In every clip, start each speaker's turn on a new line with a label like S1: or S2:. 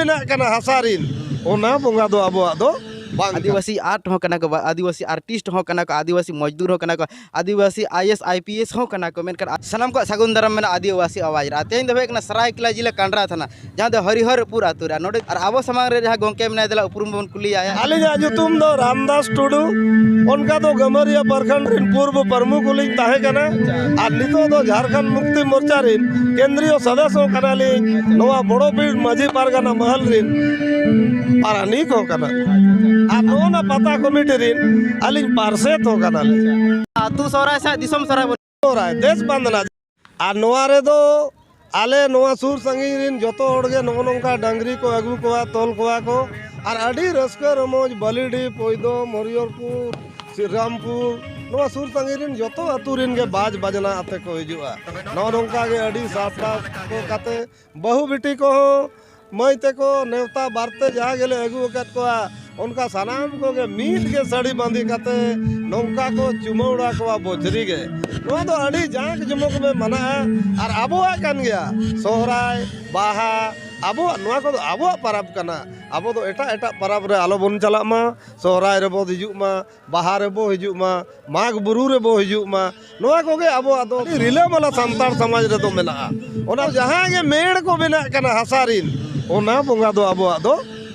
S1: ᱵᱮᱱᱟᱜ ᱠᱟᱱᱟ ᱦᱟᱥᱟ ᱨᱤᱱ ᱚᱱᱟ ᱵᱚᱸᱜᱟ ᱫᱚ ᱟᱵᱚᱣᱟᱜ ᱫᱚ ᱵᱟᱝ ᱟᱹᱫᱤᱵᱟᱹᱥᱤ ᱟᱨᱴ ᱦᱚᱸ ᱠᱟᱱᱟ ᱠᱚ ᱟᱹᱫᱤᱵᱟᱹᱥᱤ ᱟᱨᱴᱤᱥᱴ ᱦᱚᱸ ᱠᱟᱱᱟ ᱠᱚ ᱟᱹᱫᱤᱵᱟᱹᱥᱤ ᱢᱚᱡᱽᱫᱩᱨ ᱦᱚᱸ ᱠᱟᱱᱟ ᱠᱚ ᱟᱹᱫᱤᱵᱟᱹᱥᱤ I S I P S ᱦᱚᱸ ᱠᱟᱱᱟ ᱠᱚ ᱢᱮᱱᱠᱷᱟᱱ ᱥᱟᱱᱟᱢ ᱠᱚᱣᱟᱜ ᱥᱟᱹᱜᱩᱱ ᱫᱟᱨᱟᱢ ᱢᱮᱱᱟᱜᱼᱟ ᱟᱹᱫᱤᱵᱟᱹᱥᱤ ᱟᱣᱟᱡᱽ ᱨᱮ ᱟᱨ ᱛᱮᱦᱮᱧ ᱫᱚ ᱦᱩᱭᱩᱜ ᱠᱟᱱᱟ ᱥᱚᱨᱟᱭᱠᱮᱞᱞᱟ ᱡᱮᱞᱟ ᱠᱟᱸᱰᱨᱟ ᱛᱷᱟᱱᱟ ᱡᱟᱦᱟᱸ ᱫᱚ ᱦᱚᱨᱤᱦᱚᱨᱯᱩᱨ ᱟᱛᱳ ᱨᱮ ᱱᱚᱰᱮ ᱟᱨ ᱟᱵᱚ ᱥᱟᱢᱟᱝ ᱨᱮ ᱡᱟᱦᱟᱸ ᱜᱚᱝᱠᱮ ᱢᱮᱱᱟᱭ ᱫᱮᱞᱟ ᱩᱯᱨᱩᱢ ᱵᱚᱱ ᱠᱩᱞᱤᱭᱟ ᱟᱹᱞᱤᱧᱟᱜ ᱧᱩᱛᱩᱢ ᱫᱚ ᱨᱟᱢᱫᱟᱥ ᱴᱩᱰᱩ ᱚᱱᱠᱟ ᱫᱚ ᱜᱟᱹᱢᱟᱹᱨᱤᱭᱟᱹ ᱯᱨᱚᱠᱷᱚᱸᱰ ᱨᱤᱱ ᱯᱩᱨᱵᱚ ᱯᱨᱚᱢᱩᱠᱷ ᱞᱤᱧ ᱛᱟᱦᱮᱸ ᱠᱟᱱᱟ ᱟᱨ ᱱᱤᱛᱚᱜ ᱫᱚ ᱡᱷᱟᱲᱠᱷᱚᱸᱰ ᱢᱩᱠᱛᱤ ᱢᱳᱨᱪᱟ ᱨᱤᱱ ᱠᱮᱱᱫᱨᱤᱭᱚ ᱥᱚᱫᱚᱥᱥᱚ ᱠᱟᱱᱟᱞᱤᱧ ᱱᱚᱣᱟ ᱵᱚᱲᱚ ᱵᱤᱨ ᱢᱟᱹᱡᱷᱤ ᱯᱟᱨᱜᱟᱱᱟ ᱢᱚᱦᱚᱞ ᱨᱤᱱ ᱯᱟᱨᱟᱱᱤᱠ ᱦᱚᱸ ᱠᱟᱱᱟ ᱟᱨ ᱱᱚᱜᱼᱚ ᱱᱟ ᱯᱟᱛᱟ ᱠᱚᱢᱤᱴᱤ ᱨᱤᱱ ᱟᱹᱞᱤᱧ ᱯᱟᱨᱥᱮᱛ ᱦᱚᱸ ᱠᱟᱱᱟᱞᱤᱧ ᱟᱛᱳ ᱥᱚᱦᱨᱟᱭ ᱥᱟᱶ ᱫᱤᱥᱚᱢ ᱥᱚᱦᱨᱟᱭ ᱫᱮᱥ ᱵᱟᱱᱫᱱᱟ ᱟᱨ ᱱᱚᱣᱟ ᱨᱮᱫᱚ ᱟᱞᱮ ᱱᱚᱣᱟ ᱥᱩᱨ ᱥᱟᱺᱜᱤᱧ ᱨᱤᱱ ᱡᱚᱛᱚ ᱦᱚᱲ ᱜᱮ ᱱᱚᱜᱼᱚ ᱱᱚᱝᱠᱟ ᱰᱟᱝᱨᱤ ᱠᱚ ᱟᱹᱜᱩ ᱠᱚᱣᱟ ᱛᱚᱞ ᱠᱚᱣᱟ ᱠᱚ ᱟᱨ ᱟᱹᱰᱤ ᱨᱟᱹᱥᱠᱟᱹ ᱨᱚᱢᱚᱡᱽ ᱵᱟᱹᱞᱤᱰᱤ ᱯᱚᱭᱫᱚ ᱢᱚᱨᱤᱭᱚᱨᱯᱩᱨ ᱥᱨᱤᱨᱟᱢᱯᱩᱨ ᱱᱚᱣᱟ ᱥᱩᱨ ᱥᱟᱺᱜᱤᱧ ᱨᱤᱱ ᱡᱚᱛᱚ ᱟᱹᱛᱩ ᱨᱤᱱ ᱜᱮ ᱵᱟᱡᱽ ᱵᱟᱡᱽᱱᱟ ᱟᱛᱮ ᱠᱚ ᱦᱤᱡᱩᱜᱼᱟ ᱱᱚᱜᱼᱚ ᱱᱚᱝᱠᱟ ᱜᱮ ᱟᱹᱰᱤ ᱥᱟᱯᱲᱟᱣ ᱠᱟᱛᱮ ᱵᱟᱹᱦᱩ ᱵᱤᱴᱤ ᱠᱚᱦᱚᱸ ᱢᱟᱹᱭ ᱛᱮᱠᱚ ᱱᱮᱣᱛᱟ ᱵᱟᱨᱛᱮ ᱡᱟᱦᱟᱸ ᱜᱮᱞᱮ ᱟᱹᱜᱩ ᱟᱠᱟᱫ ᱠᱚᱣᱟ ᱚᱱᱠᱟ ᱥᱟᱱᱟᱢ ᱠᱚᱜᱮ ᱢᱤᱫ ᱜᱮ ᱥᱟᱹᱲᱤ ᱵᱟᱸᱫᱮ ᱠᱟᱛᱮ ᱱᱚᱝᱠᱟ ᱠᱚ ᱪᱩᱢᱟᱹᱲᱟ ᱠᱚᱣᱟ ᱵᱚᱡᱽᱨᱤ ᱜᱮ ᱱᱚᱣᱟ ᱫᱚ ᱟᱹᱰᱤ ᱡᱟᱸᱠ ᱡᱚᱢᱚᱠ ᱜᱮ ᱢᱟᱱᱟᱜᱼᱟ ᱟᱨ ᱟᱵᱚᱣᱟᱜ ᱠᱟᱱ ᱜᱮᱭᱟ ᱥᱚᱦᱨᱟᱭ ᱵᱟᱦᱟ ᱟᱵᱚᱣᱟᱜ ᱱᱚᱣᱟ ᱠᱚᱫᱚ ᱟᱵᱚᱣᱟᱜ ᱯᱚᱨᱚᱵᱽ ᱠᱟᱱᱟ ᱟᱵᱚ ᱫᱚ ᱮᱴᱟᱜ ᱮᱴᱟᱜ ᱯᱚᱨᱚᱵᱽ ᱨᱮ ᱟᱞᱚ ᱵᱚᱱ ᱪᱟᱞᱟᱜ ᱢᱟ ᱥᱚᱦᱨᱟᱭ ᱨᱮᱵᱚᱱ ᱦᱤᱡᱩᱜ ᱢᱟ ᱵᱟᱦᱟ ᱨᱮᱵᱚ ᱦᱤᱡᱩᱜ ᱢᱟ ᱢᱟᱜᱽ ᱵᱩᱨᱩ ᱨᱮᱵᱚ ᱦᱤᱡᱩᱜ ᱢᱟ ᱱᱚᱣᱟ ᱠᱚᱜᱮ ᱟᱵᱚᱣᱟᱜ ᱫᱚ ᱟᱹᱰᱤ ᱨᱤᱞᱟᱹᱢᱟᱞᱟ ᱥᱟᱱᱛᱟᱲ ᱥᱚᱢᱟᱡᱽ ᱨᱮᱫᱚ ᱢᱮᱱᱟᱜᱼᱟ ᱚᱱᱟ ᱡᱟᱦᱟᱸ ᱜᱮ ᱢᱮᱲ ᱠᱚ ᱵᱮᱱᱟᱜ ᱠᱟᱱᱟ ᱦᱟᱥᱟ ᱨᱤᱱ ᱚᱱᱟ ᱵᱚᱸᱜᱟ ᱫᱚ ᱟᱵᱚᱣᱟᱜ ᱫᱚ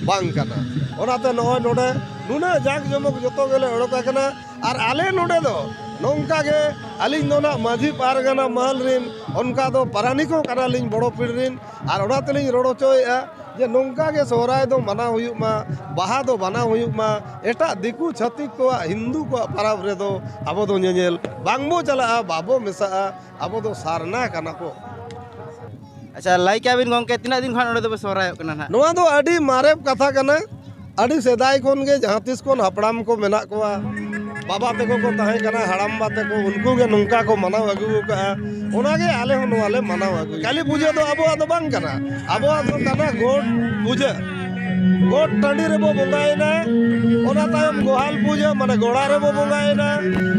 S1: ᱵᱟᱝ ᱠᱟᱱᱟ ᱚᱱᱟᱛᱮ ᱱᱚᱜᱼᱚᱭ ᱱᱚᱰᱮ ᱱᱩᱱᱟᱹᱜ ᱡᱟᱠ ᱡᱚᱢᱚᱠ ᱡᱚᱛᱚ ᱜᱮᱞᱮ ᱚᱰᱚᱠ ᱟᱠᱟᱱᱟ ᱟᱨ ᱟᱞᱮ ᱱᱚᱰᱮ ᱫᱚ ᱱᱚᱝᱠᱟ ᱜᱮ ᱟᱹᱞᱤᱧ ᱫᱚ ᱱᱟᱜ ᱢᱟᱹᱡᱷᱤ ᱯᱟᱨᱜᱟᱱᱟ ᱢᱟᱹᱞ ᱨᱤᱱ ᱚᱱᱠᱟ ᱫᱚ ᱯᱟᱨᱟᱱᱤᱠ ᱦᱚᱸ ᱠᱟᱱᱟᱞᱤᱧ ᱵᱚᱲᱚ ᱯᱤᱲ ᱨᱤᱱ ᱟᱨ ᱚᱱᱟ ᱛᱮᱞᱤᱧ ᱨᱚᱲ ᱦᱚᱪᱚᱭᱮᱜᱼᱟ ᱡᱮ ᱱᱚᱝᱠᱟ ᱜᱮ ᱥᱚᱦᱨᱟᱭ ᱫᱚ ᱢᱟᱱᱟᱣ ᱦᱩᱭᱩᱜ ᱢᱟ ᱵᱟᱦᱟ ᱫᱚ ᱢᱟᱱᱟᱣ ᱦᱩᱭᱩᱜ ᱢᱟ ᱮᱴᱟᱜ ᱫᱤᱠᱩ ᱪᱷᱟᱹᱛᱤᱠ ᱠᱚᱣᱟᱜ ᱦᱤᱱᱫᱩ ᱠᱚᱣᱟᱜ ᱯᱟᱨᱟᱵᱽ ᱨᱮᱫᱚ ᱟᱵᱚ ᱫᱚ ᱧᱮᱧᱮᱞ ᱵᱟᱝ ᱵᱚ ᱪᱟᱞᱟᱜᱼᱟ ᱵᱟᱵᱚ ᱢᱮᱥᱟᱜᱼᱟ ᱟᱵᱚ ᱫᱚ ᱥᱟᱨᱱᱟ ᱠᱟᱱᱟ ᱵᱚ ᱟᱪᱪᱷᱟ ᱞᱟᱹᱭ ᱠᱮᱜᱼᱟ ᱵᱤᱱ ᱜᱚᱢᱠᱮ ᱛᱤᱱᱟᱹᱜ ᱫᱤᱱ ᱠᱷᱚᱱ ᱱᱚᱰᱮ ᱫᱚᱯᱮ ᱥᱚᱦᱨᱟᱭᱚᱜ ᱠᱟᱱᱟ ᱦᱟᱸᱜ ᱱᱚᱣᱟ ᱫᱚ ᱟᱹᱰᱤ ᱢᱟᱨᱮ ᱠᱟᱛᱷᱟ ᱠᱟᱱᱟ ᱟᱹᱰᱤ ᱥᱮᱫᱟᱭ ᱠᱷᱚᱱ ᱜᱮ ᱡᱟᱦᱟᱸ ᱛᱤᱥ ᱠᱷᱚᱱ ᱦᱟᱯᱲᱟᱢ ᱠᱚ ᱢᱮᱱᱟᱜ ᱠᱚᱣᱟ ᱵᱟᱵᱟ ᱛᱟᱠᱚ ᱠᱚ ᱛᱟᱦᱮᱸ ᱠᱟᱱᱟ ᱦᱟᱲᱟᱢ ᱵᱟ ᱛᱟᱠᱚ ᱩᱱᱠᱩ ᱜᱮ ᱱᱚᱝᱠᱟ ᱠᱚ ᱢᱟᱱᱟᱣ ᱟᱹᱜᱩ ᱟᱠᱟᱫᱼᱟ ᱚᱱᱟ ᱜᱮ ᱟᱞᱮ ᱦᱚᱸ ᱱᱚᱣᱟ ᱞᱮ ᱢᱟᱱᱟᱣ ᱟᱹᱜᱩᱭᱟ ᱠᱟᱹᱞᱤ ᱯᱩᱡᱟᱹ ᱫᱚ ᱟᱵᱚᱣᱟᱜ ᱫᱚ ᱵᱟᱝ ᱠᱟᱱᱟ ᱟᱵᱚᱣᱟᱜ ᱫᱚ ᱠᱟᱱᱟ ᱜᱚᱴ ᱯᱩᱡᱟᱹ ᱜᱚᱴ ᱴᱟᱺᱰᱤ ᱨᱮᱵᱚ ᱵᱚᱸᱜᱟᱭᱮᱱᱟ ᱚᱱᱟ ᱛᱟᱭᱚᱢ ᱜᱚᱦᱟᱞ ᱯᱩᱡᱟᱹ ᱢᱟᱱᱮ ᱜᱚᱲᱟ ᱨᱮᱵᱚ ᱵᱚᱸᱜᱟᱭᱮᱱᱟ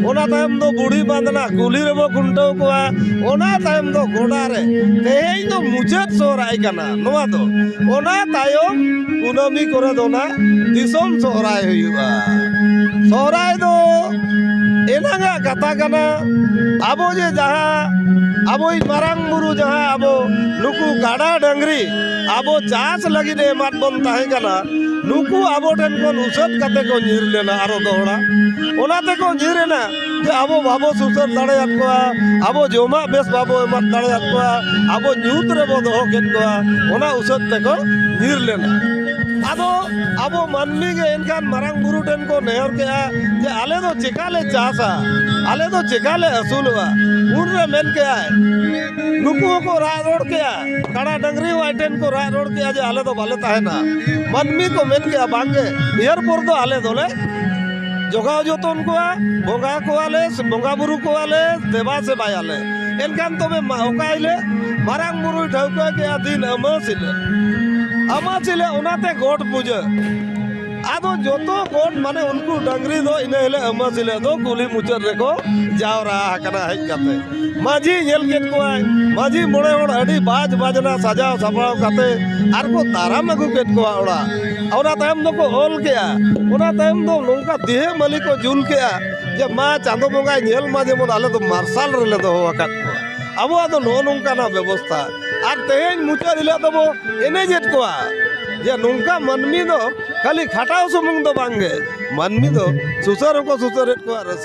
S1: ᱚᱱᱟ ᱛᱟᱭᱚᱢ ᱫᱚ ᱵᱩᱲᱦᱤ ᱵᱟᱸᱫᱽᱱᱟ ᱠᱩᱞᱦᱤ ᱨᱮᱵᱚ ᱠᱷᱩᱱᱴᱟᱹᱣ ᱠᱚᱣᱟ ᱚᱱᱟ ᱛᱟᱭᱚᱢ ᱫᱚ ᱜᱚᱰᱟ ᱨᱮ ᱛᱮᱦᱮᱧ ᱫᱚ ᱢᱩᱪᱟᱹᱫ ᱥᱚᱦᱨᱟᱭ ᱠᱟᱱᱟ ᱱᱚᱣᱟ ᱫᱚ ᱚᱱᱟ ᱛᱟᱭᱚᱢ ᱠᱩᱱᱟᱹᱢᱤ ᱠᱚᱨᱮ ᱫᱚ ᱱᱟᱜ ᱫᱤᱥᱚᱢ ᱥᱚᱦᱨᱟᱭ ᱦᱩᱭᱩᱜᱼᱟ ᱥᱚᱦᱨᱟᱭ ᱫᱚ ᱮᱱᱟᱝᱟᱜ ᱠᱟᱛᱷᱟ ᱠᱟᱱᱟ ᱟᱵᱚ ᱡᱮ ᱡᱟᱦᱟᱸ ᱟᱵᱚᱭᱤᱡ ᱢᱟᱨᱟᱝ ᱵᱩᱨᱩ ᱡᱟᱦᱟᱸ ᱟᱵᱚ ᱱᱩᱠᱩ ᱜᱟᱰᱟ ᱰᱟᱹᱝᱨᱤ ᱟᱵᱚ ᱪᱟᱥ ᱞᱟᱹᱜᱤᱫ ᱮᱢᱟᱫ ᱵᱚᱱ ᱛᱟᱦᱮᱸ ᱠᱟᱱᱟ ᱱᱩᱠᱩ ᱟᱵᱚ ᱴᱷᱮᱱ ᱠᱷᱚᱱ ᱩᱥᱟᱹᱫ ᱠᱟᱛᱮ ᱠᱚ ᱧᱤᱨ ᱞᱮᱱᱟ ᱟᱨᱚ ᱫᱚᱦᱲᱟ ᱚᱱᱟ ᱛᱮᱠᱚ ᱧᱤᱨ ᱮᱱᱟ ᱡᱮ ᱟᱵᱚ ᱵᱟᱵᱚ ᱥᱩᱥᱟᱹᱨ ᱫᱟᱲᱮᱭᱟᱫ ᱠᱚᱣᱟ ᱟᱵᱚ ᱡᱚᱢᱟᱜ ᱵᱮᱥ ᱵᱟᱵᱚ ᱮᱢᱟ ᱫᱟᱲᱮᱭᱟᱫ ᱠᱚᱣᱟ ᱟᱵᱚ ᱧᱩᱛ ᱨᱮᱵᱚ ᱫᱚᱦᱚ ᱠᱮᱫ ᱠᱚᱣᱟ ᱚᱱᱟ ᱩᱥᱟᱹᱫ ᱛᱮᱠᱚ ᱧᱤᱨ ᱞᱮᱱᱟ ᱟᱫᱚ ᱟᱵᱚ ᱢᱟᱹᱱᱢᱤ ᱜᱮ ᱮᱱᱠᱷᱟᱱ ᱢᱟᱨᱟᱝ ᱵᱩᱨᱩ ᱴᱷᱮᱱ ᱠᱚ ᱱᱮᱦᱚᱨ ᱠᱮᱜᱼᱟ ᱡᱮ ᱟᱞᱮ ᱫᱚ ᱪᱮᱠᱟ ᱞᱮ ᱪᱟᱥᱟ ᱟᱞᱮ ᱫᱚ ᱪᱮᱠᱟ ᱞᱮ ᱟᱹᱥᱩᱞᱚᱜᱼᱟ ᱩᱱᱨᱮ ᱢᱮᱱ ᱠᱮᱜᱼᱟᱭ ᱱᱩᱠᱩ ᱦᱚᱸᱠᱚ ᱨᱟᱜ ᱨᱚᱲ ᱠᱮᱜᱼᱟ ᱠᱟᱲᱟ ᱰᱟᱹᱝᱨᱤ ᱦᱚᱸ ᱟᱡ ᱴᱷᱮᱱ ᱠᱚ ᱨᱟᱜ ᱨᱚᱲ ᱠᱮᱜᱼᱟ ᱡᱮ ᱟᱞᱮ ᱫᱚ ᱵᱟᱞᱮ ᱛᱟᱦᱮᱱᱟ ᱢᱟᱹᱱᱢᱤ ᱠᱚ ᱢᱮᱱ ᱠᱮᱜᱼᱟ ᱵᱟᱝᱜᱮ ᱱᱤᱭᱟᱹᱨ ᱯᱚᱨ ᱫᱚ ᱟᱞᱮ ᱫᱚᱞᱮ ᱡᱚᱜᱟᱣ ᱡᱚᱛᱚᱱ ᱠᱚᱣᱟ ᱵᱚᱸᱜᱟ ᱠᱚᱣᱟᱞᱮ ᱵᱚᱸᱜᱟ ᱵᱩᱨᱩ ᱠᱚᱣᱟᱞᱮ ᱫᱮᱵᱟ ᱥᱮᱵᱟᱭᱟᱞᱮ ᱮᱱᱠᱷᱟᱱ ᱛᱚᱵᱮ ᱚᱠᱟ ᱦᱤᱞᱳᱜ ᱢᱟᱨᱟᱝ ᱵᱩᱨᱩᱭ ᱴᱷᱟᱹᱣᱠᱟᱹ ᱠᱮᱜᱼᱟ ᱫᱤᱱ ᱟᱹᱢᱟᱹᱥ ᱦᱤᱞᱳᱜ ᱟᱹᱢᱟᱹᱥ ᱦᱤᱞᱳᱜ ᱚᱱᱟᱛᱮ ᱜᱚᱴ ᱯᱩᱡᱟᱹ ᱟᱫᱚ ᱡᱚᱛᱚ ᱜᱚᱴ ᱢᱟᱱᱮ ᱩᱱᱠᱩ ᱰᱟᱹᱝᱨᱤ ᱫᱚ ᱤᱱᱟᱹ ᱦᱤᱞᱳᱜ ᱟᱹᱢᱟᱹᱥ ᱦᱤᱞᱳᱜ ᱫᱚ ᱠᱩᱞᱦᱤ ᱢᱩᱪᱟᱹᱫ ᱨᱮᱠᱚ ᱡᱟᱣᱨᱟ ᱟᱠᱟᱱᱟ ᱦᱮᱡ ᱠᱟᱛᱮ ᱢᱟᱹᱡᱷᱤ ᱧᱮᱞ ᱠᱮᱫ ᱠᱚᱣᱟᱭ ᱢᱟᱹᱡᱷᱤ ᱢᱚᱬᱮ ᱦᱚᱲ ᱟᱹᱰᱤ ᱵᱟᱡᱽ ᱵᱟᱡᱽᱱᱟ ᱥᱟᱡᱟᱣ ᱥᱟᱯᱲᱟᱣ ᱠᱟᱛᱮ ᱟᱨᱠᱚ ᱫᱟᱨᱟᱢ ᱟᱹᱜᱩ ᱠᱮᱫ ᱠᱚᱣᱟ ᱚᱲᱟᱜ ᱚᱱᱟ ᱛᱟᱭᱚᱢ ᱫᱚᱠᱚ ᱚᱞ ᱠᱮᱜᱼᱟ ᱚᱱᱟ ᱛᱟᱭᱚᱢ ᱫᱚ ᱱᱚᱝᱠᱟ ᱫᱤᱦᱮ ᱢᱟᱹᱞᱤ ᱠᱚ ᱡᱩᱞ ᱠᱮᱜᱼᱟ ᱡᱮ ᱢᱟ ᱪᱟᱸᱫᱚ ᱵᱚᱸᱜᱟᱭ ᱧᱮᱞ ᱢᱟ ᱡᱮᱢᱚᱱ ᱟᱞᱮ ᱫᱚ ᱢᱟᱨᱥᱟᱞ ᱨᱮᱞᱮ ᱫᱚᱦᱚ ᱟᱠᱟᱫ ᱠᱚᱣᱟ ᱟᱵᱚᱣᱟᱜ ᱫᱚ ᱱᱚᱜᱼᱚ ᱱᱚᱝᱠᱟᱱᱟᱜ ᱵᱮᱵᱚᱥᱛᱷᱟ ᱟᱨ ᱛᱮᱦᱮᱧ ᱢᱩᱪᱟᱹᱫ ᱦᱤᱞᱳᱜ ᱫᱚᱵᱚ ᱮᱱᱮᱡᱮᱫ ᱠᱚᱣᱟ ᱡᱮ ᱱᱚᱝᱠᱟ ᱢᱟᱹᱱᱢᱤ ᱫᱚ ᱠᱷᱟᱹᱞᱤ ᱠᱷᱟᱴᱟᱣ ᱥᱩᱢᱩᱝ ᱫᱚ ᱵᱟᱝᱜᱮ ᱢᱟᱹᱱᱢᱤ ᱫᱚ ᱥᱩᱥᱟᱹᱨ ᱦᱚᱸᱠᱚ ᱥᱩᱥᱟᱹᱨᱮᱫ ᱠᱚᱣᱟ ᱨᱟᱹᱥᱠᱟᱹ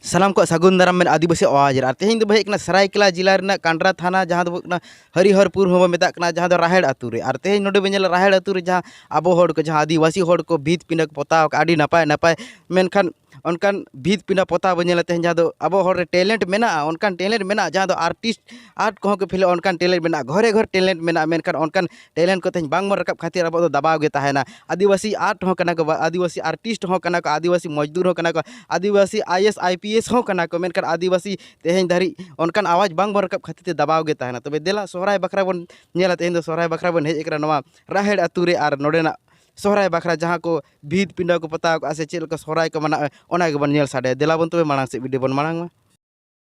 S1: ᱥᱟᱱᱟᱢ ᱠᱚ ᱥᱟᱹᱜᱩᱱ ᱫᱟᱨᱟᱢ ᱢᱮᱱ ᱟᱹᱫᱤᱵᱟᱹᱥᱤ ᱟᱣᱟᱡᱽ ᱨᱮ ᱟᱨ ᱛᱮᱦᱮᱧ ᱫᱚ ᱦᱮᱡ ᱠᱟᱱᱟ ᱥᱟᱨᱟᱭᱠᱮᱞᱟ ᱡᱮᱞᱟ ᱨᱮᱱᱟᱜ ᱠᱟᱱᱰᱨᱟ ᱛᱷᱟᱱᱟ ᱡᱟᱦᱟᱸ ᱫᱚ ᱦᱩᱭᱩᱜ ᱠᱟᱱᱟ ᱦᱚᱨᱤᱦᱚᱨᱯᱩᱨ ᱦᱚᱸᱵᱚ ᱢᱮᱛᱟᱜ ᱠᱟᱱᱟ ᱡᱟᱦᱟᱸ ᱫᱚ ᱨᱟᱦᱮᱲ ᱟᱹᱛᱩ ᱨᱮ ᱟᱨ ᱛᱮᱦᱮᱧ ᱱᱚᱰᱮ ᱵᱚᱱ ᱧᱮᱞᱟ ᱨᱟᱦᱮᱲ ᱟᱹᱛᱩ ᱨᱮ ᱡᱟᱦᱟᱸ ᱟᱵᱚ ᱦᱚᱲ ᱠᱚ ᱡᱟᱦᱟᱸ ᱟᱹᱫᱤᱵᱟᱹᱥᱤ ᱦᱚᱲ ᱠᱚ ᱵᱷᱤᱛ ᱯᱤᱸᱰᱟᱹ ᱠᱚ ᱯᱚᱛᱟᱣ ᱠᱟᱜᱼᱟ ᱟᱹᱰᱤ ᱱᱟᱯᱟᱭ ᱱᱟᱯᱟᱭ ᱢᱮᱱᱠᱷᱟᱱ ᱚᱱᱠᱟᱱ ᱵᱷᱤᱛ ᱯᱤᱸᱰᱟᱹ ᱯᱚᱛᱟᱣ ᱵᱚᱱ ᱧᱮᱞᱟ ᱛᱮᱦᱮᱧ ᱡᱟᱦᱟᱸ ᱫᱚ ᱟᱵᱚ ᱦᱚᱲ ᱨᱮ ᱴᱮᱞᱮᱱᱴ ᱢᱮᱱᱟᱜᱼᱟ ᱚᱱᱠᱟᱱ ᱴᱮᱞᱮᱱᱴ ᱢᱮᱱᱟᱜᱼᱟ ᱡᱟᱦᱟᱸ ᱫᱚ ᱟᱨᱴᱤᱥᱴ ᱟᱨᱴ ᱠᱚᱦᱚᱸ ᱠᱚ ᱯᱷᱮᱞᱚᱜᱼᱟ ᱚᱱᱠᱟᱱ ᱴᱮᱞᱮᱱᱴ ᱢᱮᱱᱟᱜᱼᱟ ᱜᱷᱚᱨᱮ ᱜᱷᱚᱨ ᱴᱮᱞᱮᱱᱴ ᱢᱮᱱᱟᱜᱼᱟ ᱢᱮᱱᱠᱷᱟᱱ ᱚᱱᱠᱟᱱ ᱴᱮᱞᱮᱱᱴ ᱠᱚ ᱛᱮᱦᱮᱧ ᱵᱟᱝᱵᱚᱱ ᱨᱟᱠᱟᱵ ᱠᱷᱟᱹᱛᱤᱨ ᱟᱵᱚ ᱫᱚ ᱫᱟᱵᱟᱣ ᱜᱮ ᱛᱟᱦᱮᱱᱟ ᱟᱹᱫᱤᱵᱟᱹᱥᱤ ᱟᱨᱴ ᱦᱚᱸ ᱠᱟᱱᱟ ᱠᱚ ᱟᱹᱫᱤᱵᱟᱹᱥᱤ ᱟᱨᱴᱤᱥᱴ ᱦᱚᱸ ᱠᱟᱱᱟ ᱠᱚ ᱟᱹᱫᱤᱵᱟᱹᱥᱤ ᱢᱚᱡᱽᱫᱩᱨ ᱦᱚᱸ ᱠᱟᱱᱟ ᱠᱚ ᱟᱹᱫᱤᱵᱟᱹᱥᱤ I A S I P S ᱦᱚᱸ ᱠᱟᱱᱟ ᱠᱚ ᱢᱮᱱᱠᱷᱟᱱ ᱟᱹᱫᱤᱵᱟᱹᱥᱤ ᱛᱮᱦᱮᱧ ᱫᱷᱟᱹᱨᱤᱡ ᱚᱱᱠᱟᱱ ᱟᱣᱟᱡᱽ ᱵᱟᱝᱵᱚᱱ ᱨᱟᱠᱟᱵ ᱠᱷᱟᱹᱛᱤᱨ ᱛᱮ ᱫᱟᱵᱟᱣ ᱜᱮ ᱛᱟᱦᱮᱱᱟ ᱛᱚᱵᱮ ᱫᱮᱞᱟ ᱥᱚᱦᱨᱟᱭ ᱵᱟᱠᱷᱨᱟ ᱵᱚᱱ ᱧᱮᱞᱟ ᱛᱮᱦᱮᱧ ᱫᱚ ᱥᱚᱦᱨᱟᱭ ᱵᱟᱠᱷᱨᱟ ᱵᱚᱱ ᱦᱮᱡ ᱠᱟᱱᱟ ᱱᱚᱣᱟ ᱨᱟᱦᱮᱲ ᱟᱹᱛᱩ ᱨᱮ ᱟᱨ ᱱᱚᱰᱮᱱᱟᱜ ᱥᱚᱦᱨᱟᱭ ᱵᱟᱠᱷᱨᱟ ᱡᱟᱦᱟᱸ ᱠᱚ ᱵᱷᱤᱛ ᱯᱤᱸᱰᱟᱹ ᱠᱚ ᱯᱚᱛᱟᱣ ᱠᱟᱜᱼᱟ ᱥᱮ ᱪᱮᱫ ᱞᱮᱠᱟ ᱥᱚᱦᱨᱟᱭ ᱠᱚ ᱢᱟᱱᱟᱣᱮᱜᱼᱟ ᱚᱱᱟ ᱜᱮᱵᱚᱱ ᱧᱮᱞ ᱥᱟᱰᱮᱭᱟ ᱫᱮᱞᱟᱵᱚᱱ ᱛᱚᱵᱮ ᱢᱟᱲᱟᱝ ᱥᱮᱫ ᱵᱷᱤᱰᱤᱭᱳ ᱵᱚᱱ ᱢᱟᱲᱟᱝ ᱢᱟ